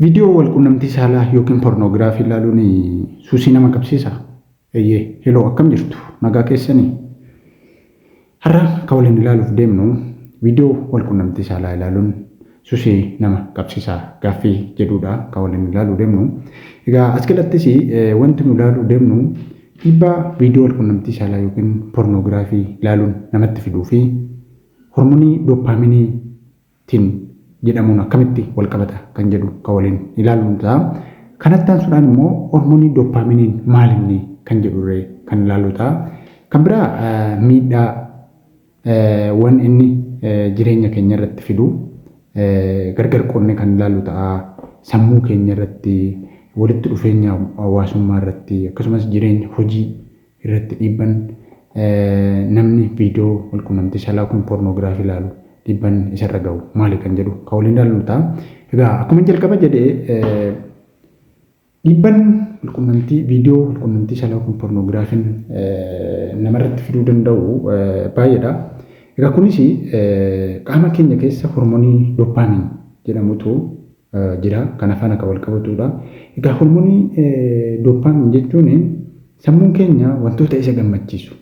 Viidiyoo walqunnamtii saalaa yookiin pornoogiraafii ilaaluun suusii nama qabsiisaa? Eeyyee. Heloo akkam jirtu? Nagaa keessanii? Har'a kan waliin ilaaluuf deemnu viidiyoo walqunnamtii saalaa ilaaluun susii nama qabsiisaa gaaffii jedhuudha kan waliin ilaaluu deemnu. Egaa as keessattis wanti nu ilaaluu deemnu dhiibbaa viidiyoo walqunnamtii saalaa yookiin pornoogiraafii ilaaluun namatti fiduu fi hormonii dooppaaminii tin jedhamuun akkamitti walqabata kan jedhu kan waliin ilaallu ta'a. Kanatti aansuudhaan immoo hormoonii doppaaminiin maal inni kan jedhurree kan ilaallu ta'a. Kan biraa miidhaa wan inni jireenya keenya irratti fidu gargar qoodne kan ilaallu ta'a. Sammuu keenya irratti walitti dhufeenya hawaasummaa irratti akkasumas jireenya hojii irratti dhiibban namni viidiyoo walqunnamtii saalaa yookiin poornoogiraafii ilaalu dhiibban isarra ga'u maali kan jedhu kan waliin ilaallu ta'a. Egaa akkuma jalqaba jedhe dhiibban walqunnamtii viidiyoo walqunnamtii saalaa yookiin poornoogiraafiin namarratti fiduu danda'u baay'eedha. Egaa kunis qaama keenya keessa hormonii dooppaamiin jedhamutu jira. Kana faana kan walqabatuudha. Egaa hormonii dopamine jechuun sammuun keenya wantoota isa gammachiisu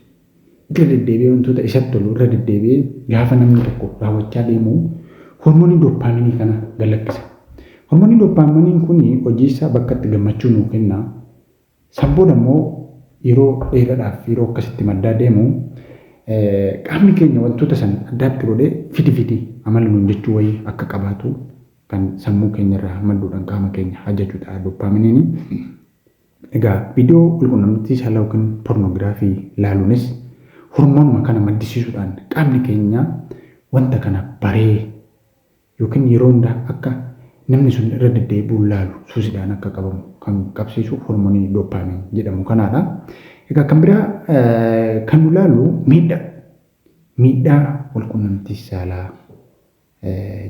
irra deddeebi'ee wantoota isatti tolu irra deddeebi'ee gaafa namni tokko raawwachaa deemu hormonii dopamine kana gad lakkisa. Hormonii dopamine kun hojiisaa bakka itti gammachuu nuu kenna San booda immoo yeroo dheeradhaaf yeroo akkasitti maddaa deemu qaamni keenya wantoota san addaatti godhee fidi fidi amala nuun jechuu wayii akka qabaatu kan sammuu keenya irraa madduudhaan qaama keenya hajaju ta'a doppaaminiini. Egaa viidiyoo walqunnamtii saalaa yookiin pornoogiraafii laaluunis hormoonuma kana maddisiisuudhaan qaamni keenya wanta kana baree yookiin yeroo hunda akka namni sun irra deddeebi'uun laalu suusidhaan akka qabamu kan qabsiisu hormonii dopamine jedhamu kanaadha. Egaa kan biraa kan nu laalu miidhaa miidhaa walqunnamtii saalaa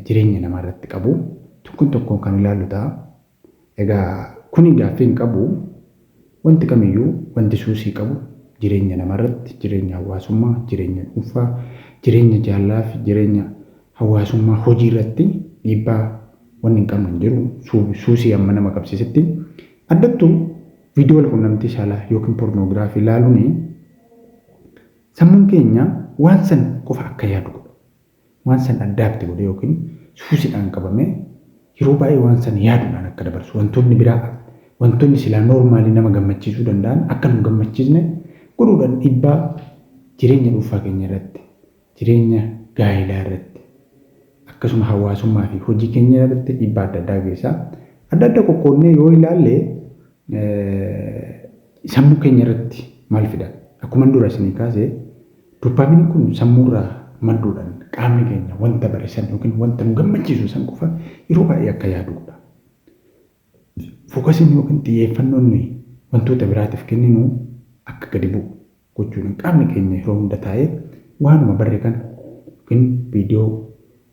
jireenya namaa irratti qabu tokkoon tokkoon kan ilaallu ta'a. Egaa kuni gaaffii hin qabu. Wanti kamiyyuu wanti suusii qabu jireenya namarratti, jireenya hawaasummaa, jireenya dhuunfaa, jireenya jaalalaafi jireenya hawaasummaa hojiirratti dhiibbaa wanni hin qabne hin jiru. Suusii amma nama qabsiisetti addattuu viidiyoo walqunnamtii saalaa yookiin pornoogiraafii ilaaluun sammuun keenya waan san qofa akka yaadu godha. Waan san addaakti godhee ykn suusidhaan qabamee yeroo baay'ee waan san yaaduudhaan akka dabarsu, wantoonni biraa, wantoonni silaa normally nama gammachiisuu danda'an akka nun gammachiisne godhuudhaan dhiibbaa jireenya dhuunfaa keenya irratti, jireenya gaa'ilaa irratti, akkasuma hawaasummaa fi hojii keenya irratti dhiibbaa adda addaa geessa. Adda adda qoqqoodnee yoo ilaalle sammuu keenya irratti maal fida? Akkuman dura isinii kaase doppaaminiin kun sammuurraa madduudhaan qaamni keenya wanta bare san yookiin wanta nu gammachiisu san qofa yeroo baay'ee akka yaadu godha. Fookasiin yookiin xiyyeeffannoon nuyi wantoota biraatiif kenninu akka gadi bu'u gochuudhaan qaamni keenya yeroo hunda taa'ee waanuma barre kana yookiin viidiyoo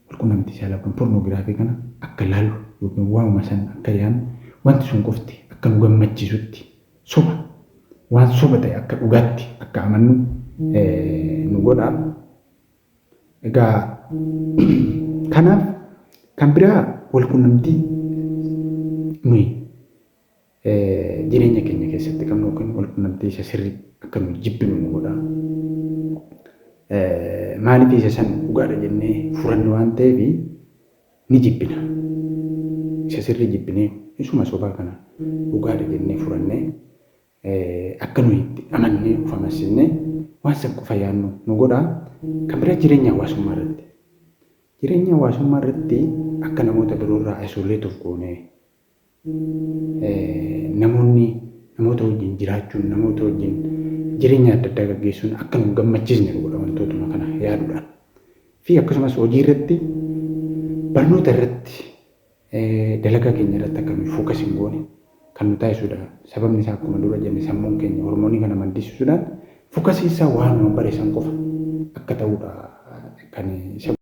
walqunnamtii saalaa yookiin pornoogiraafii kana akka laallu yookiin waanuma san akka yaannu wanti sun qofti akka nu gammachiisutti soba waan soba ta'e akka dhugaatti akka amannu nu godha. Egaa kanaaf kan biraa walqunnamtii nuyi jireenya keenya keessatti qabnu yookiin walqunnamtii isa sirrii akka nuyi jibbinu nu godha. Maaliif isa san dhugaadha jennee furanne waan ta'eef ni jibbina. Isa sirrii jibbinee isuma sobaa kana dhugaadha jennee furanne akka nuyi itti amannee of amansiifne waan san qofa yaadnu nu godha. Kan biraa jireenya hawaasummaa irratti. Jireenya hawaasummaa irratti akka namoota biroo irraa isolate of goonee namoonni namoota wajjin jiraachuun namoota wajjin jireenya adda addaa gaggeessuun akka nu gammachiisne nu godha wantootuma kana yaaduudhaan fi akkasumas hojii irratti barnoota irratti dalagaa keenya irratti akka nuyi fookas hin goone kan nu taasisudha. Sababni isaa akkuma dura jenne sammuun keenya hormoonii kana maddisiisuudhaan fookasiin isaa waanuma bare san qofa akka ta'udha kan isa